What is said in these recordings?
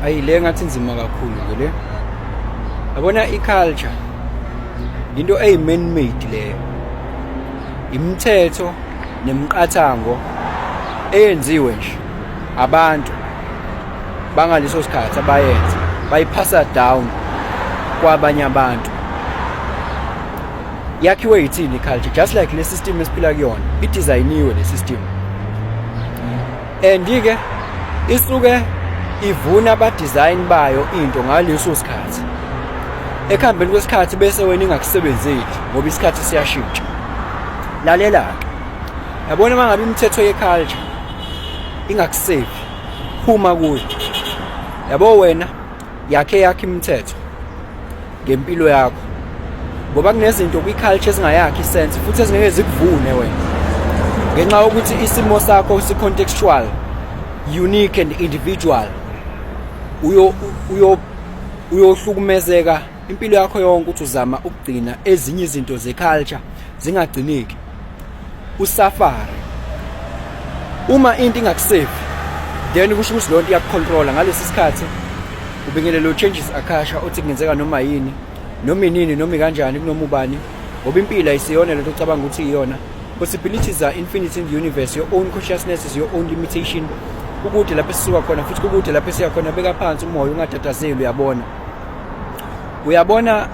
ayi le ngathi nzima kakhulu ke le yabona i-culture into eyi-man made leyo imithetho nemiqathango eyenziwe nje abantu bangaleso sikhathi abayenza bayiphasa down kwabanye abantu yakhiwe yithini i-culture just like le system esiphila kuyona idizayiniwe le system and ke isuke ivuna aba design bayo into ngaleso sikhathi ekuhambeni kwesikhathi bese wena ingakusebenzeli ngoba isikhathi siyashintsha lalela ke yabona mangabe imithetho ye culture ingakusevi phuma kuyo yabo wena yakhe yakhe imithetho ngempilo yakho ngoba kunezinto kwi-culture ezingayakhi isense futhi ezingeke zikuvune wena ngenxa yokuthi isimo sakho si-contextual unique and individual uyo uyo uyohlukumezeka impilo yakho yonke ukuthi uzama ukugcina ezinye izinto ze-culture zingagcineki usafari uma into ingakusevi then kusho ukuthi lonto iyakucontrola ngalesi sikhathi ubingelela uchanges akasha othi kungenzeka noma yini noma inini noma kanjani kunoma ubani ngoba impilo ayisiyona lento ocabanga ukuthi iyona possibilities are infinite in the universe your own consciousness is your own limitation ukude lapho esisuka khona futhi kukude lapho esiya khona beka phansi umoya ungatatazeli uyabona uyabona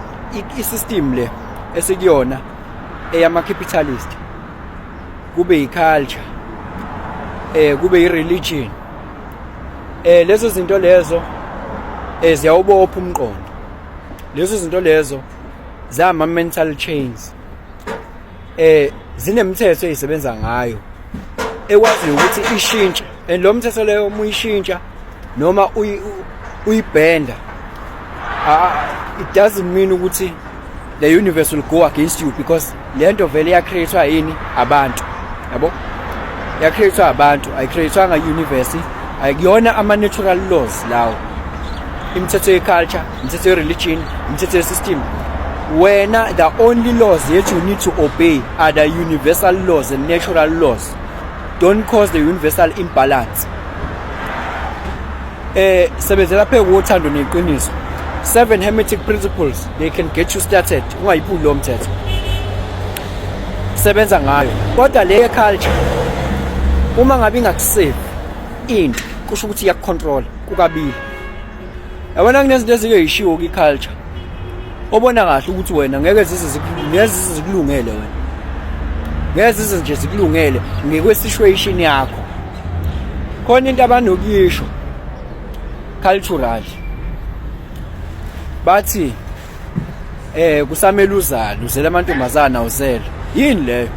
i-system le esikuyona eyama-capitalist kube yi-culture eh kube yi-religion eh lezo zinto lezo eh ziyawubopha umqondo lezo zinto lezo zama-mental chains eh zinemithetho eyisebenza ngayo ekwaziyo ukuthi ishintshe and lo mthetho leyo uma uyishintsha noma uyibhenda it doesn't mean ukuthi the universe will go against you because le nto vele yacreatwa yini abantu yabo yacreatwa abantu ayicreatwanga universe ayikuyona ama-natural laws lawo imithetho ye-culture imithetho ye-religion imithetho ye-system wena the only laws that you need to obey are the universal laws and natural laws don't cause the universal imbalance eh sebenzela phe kuthando neqiniso seven hermetic principles they can get you started ungayiphuli lo mthetho sebenza ngayo kodwa le culture uma ngabe ingakusave into kusho ukuthi iyakucontrola kukabili yabona kunezinto ezike yishiwo kwi-culture obona kahle ukuthi wena ngeke zize zikulungele wena ngeke zize nje zikulungele ngekwesituation yakho khona into abanokuyisho cultural bathi eh kusamele uzale uzele amantombazana awuzele yini leyo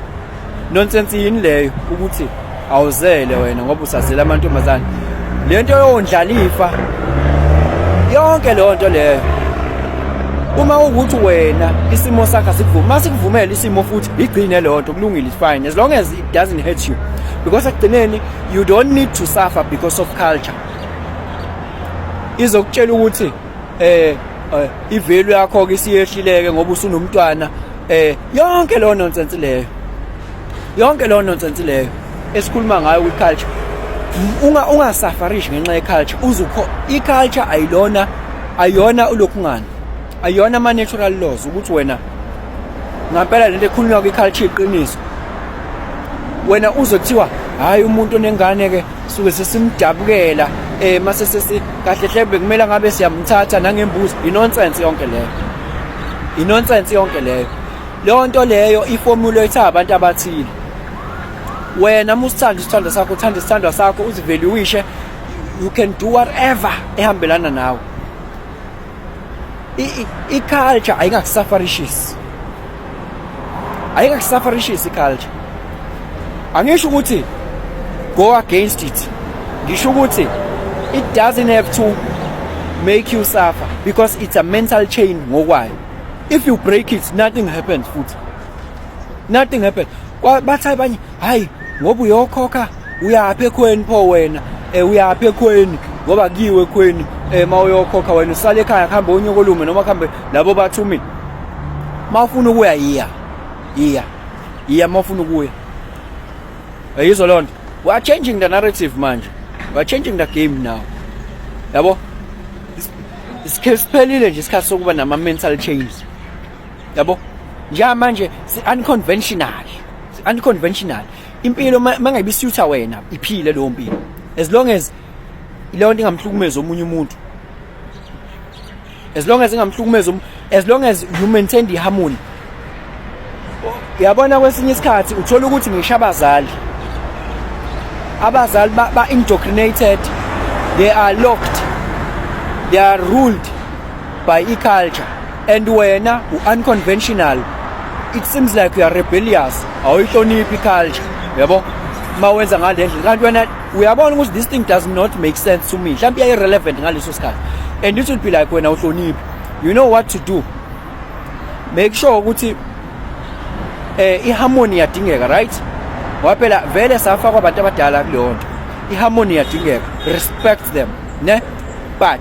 nonsense yini leyo ukuthi awuzele wena ngoba usazela amantombazana lento yondlalifa yonke leyo nto leyo uma ukuthi wena isimo sakho sikuvuma masikuvumela isimo futhi igcine leyo nto kulungile fine as long as it doesn't hurt you because ekugcineni you don't need to suffer because of culture izokutshela ukuthi eh, eh ivalue yakho ke siyehlileke ngoba usunomntwana eh yonke lo nonsense leyo yonke lo nonsense leyo esikhuluma ngayo kwi culture unga ungasafarish ngenxa ye culture uzukho i culture ayilona ayona ulokhungana ayona ama natural laws ukuthi wena ngampela lento ekhulunywa kwi culture iqiniso wena uzothiwa hayi umuntu onengane ke suke sesimdabukela eh mase sesi kahle hle bekumele ngabe siyamthatha nangembuzi inonsense yonke leyo inonsense yonke leyo leyo nto leyo iformula etha abantu abathile wena musithanda isithanda sakho uthanda isithandwa sakho uzivaluishe you can do whatever ehambelana nawe i-culture ayingakusafarishisi ayingakusafarishisi i-culture angisho ukuthi go against it ngisho ukuthi it doesn't have to make you suffer because it's a mental chain ngokwayo if you break it nothing happens futhi nothing happens bathi abanye hayi ngoba uyokhokha uyaphi ekhweni pho wena um uyaphi ekhweni ngoba kuyiwe ekhweni um ma uyokhokha wena usale ekhaya kuhambe onyokolume noma kuhambe labo bathumile ma ufuna ukuya yiya yiya yiya ma ufuna ukuya yizwa loo nto we are changing the narrative manje we are changing the game now yabo siphelile nje isikhathi sokuba nama-mental change yabo njamanje si-unconventional si-unconventional impilo mangayibisutha wena iphile leyo mpilo as long as leyo nto ingamhlukumezi omunye umuntu as long as ingamhlukumezi as long as you maintain the harmony uyabona kwesinye isikhathi uthola ukuthi ngisho abazali abazali ba-indoctrinated they are locked they are ruled by iculture and wena u-unconventional it seems like you are rebellious awuyihloniphi iculture yabo uma wenza ngale ndlela kanti wena uyabona ukuthi this thing does not make sense to me mhlawumbe iyayi-relevant ngaleso sikhathi and it will be like wena uhloniphi you know what to do make sure ukuthi eh iharmony iyadingeka right ngoba phela vele safakwa abantu abadala kuleyo nto iharmony iyadingeka respect them ne but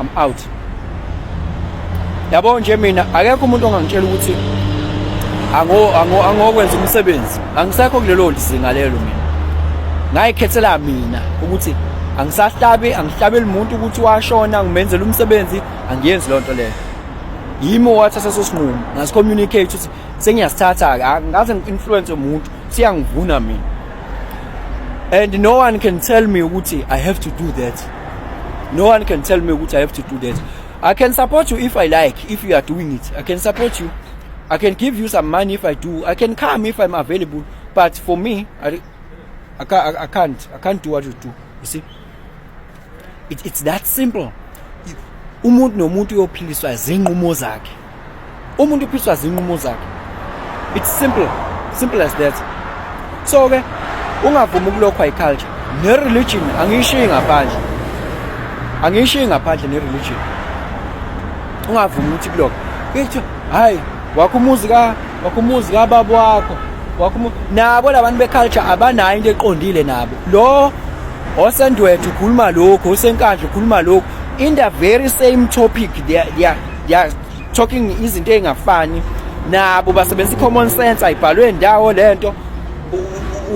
I'm out yabo nje mina akekho umuntu ongangitshela ukuthi ango ango angokwenza umsebenzi angisekho kulelo lizinga lelo mina ngayikhethela mina ukuthi angisahlabi angihlabeli umuntu ukuthi washona ngimenzela umsebenzi angiyenzi lonto leyo yimi wathatha leso sinqumo ngasi communicate ukuthi sengiyasithatha ke angaze ngi-influence umuntu siyangivuna mina and no one can tell me ukuthi i have to do that no one can tell me ukuthi i have to do that i can support you if i like if you are doing it i can support you i can give you some money if i do i can come if i'm available but for me i, I, can't, I can't i can't do what you do you see it, it's that simple umuntu nomuntu uyophiliswa zinqumo zakhe umuntu uphiswa zinqumo zakhe it's simple simple as that so ke ungavumi ukulokhwa iculture nereligion angiyishiyi ngaphandle angiyishiyi ngaphandle nereligion ungavumi ukuthi kulokho kuthiwa hayi wakho umuzi ka wakho umuzi ka baba wakho wakho nabo labantu beculture abanayo into eqondile nabo lo osendwethu ukhuluma lokho osenkandla ukhuluma lokho in the very same topic they are, they are ya talking izinto ezingafani nabo basebenzisa common sense ayibhalwe ndawo lento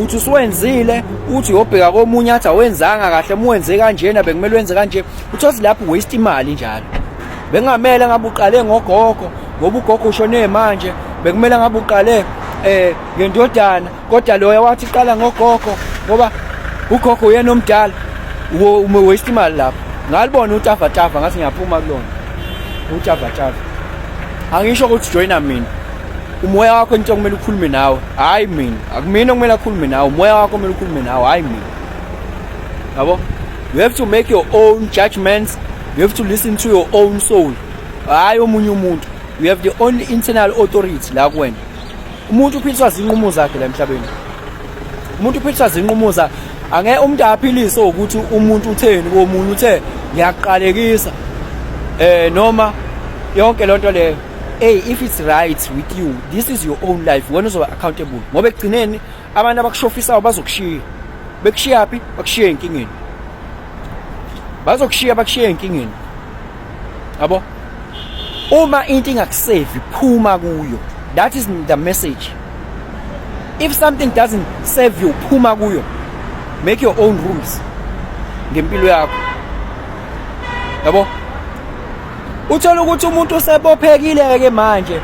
uthi usuwenzile uthi yobheka komunye athi awenzanga kahle muwenze kanjena bekumele wenze kanje uthosi lapho waste imali njalo bengamele ngabe uqale ngogogo ngoba ugogo ushone manje bekumele ngabe uqale eh ngendodana kodwa loya wathi qala ngogogo ngoba ugogo uyena omdala waste imali lapho ngalibona utavatava ngathi ngiyaphuma kulona utavatava angisho ukuthi joyina mina umoya wakho into okumele ukhulume nawe hhayi mina akumina okumele akhulume nawe umoya wakho kumele ukhulume nawe hhayi mina yabo you have to make your own judgments you have to listen to your own soul hhayi omunye umuntu you have the only internal authority la kuwena umuntu uphiliswa zinqumo zakhe la emhlabeni umuntu uphiliswa zinqumo za angeke umuntu aphiliswe ukuthi umuntu utheni komunye uthe ngiyaqalekisa eh noma yonke lonto leyo hey if it's right with you this is your own life wena uzoba accountable ngoba ekugcineni abantu abakushofisayo bazokushiya bekushiya phi bakushiya enkingeni bazokushiya bakushiya enkingeni yabo uma into ingakusevi phuma kuyo that is the message if something doesn't serve you phuma kuyo make your own rules ngempilo yakho yabo uthola ukuthi umuntu usebophekile ke manje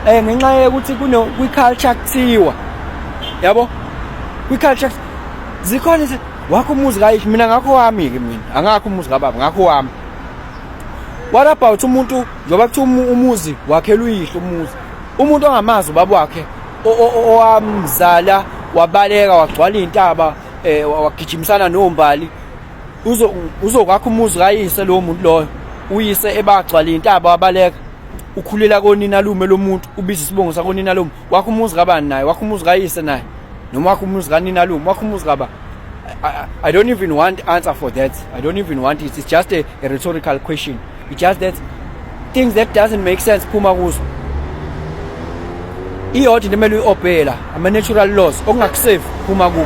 eh ngenxa yokuthi kuno kwi culture kuthiwa yabo kwi culture zikhona wakho umuzi kayish mina ngakho wami ke mina angakho umuzi kababa ngakho wami what about umuntu njengoba kuthiwa umuzi wakhelwa uyihlo umuzi umuntu ongamazi ubaba wakhe owamzala wabaleka wagcwala iy'ntaba um eh, wagijimisana nombali uzokwakha umuzi kayise lowo muntu loyo uyise ebagcwala iy'ntaba wabaleka ukhulela konina lume lomuntu ubiza isibongo sakonina lomuntu wakho umuzi kabani naye wakho umuzi kayise naye noma wakho umuzi kanina lume wakho umuzi kaba I, I don't even want answer for that I don't even want it it's just a, a rhetorical question it's just that things that doesn't make sense phuma kuzo iyodwa into emele uyi-obeyela ama-natural laws okungakusafe phuma kukho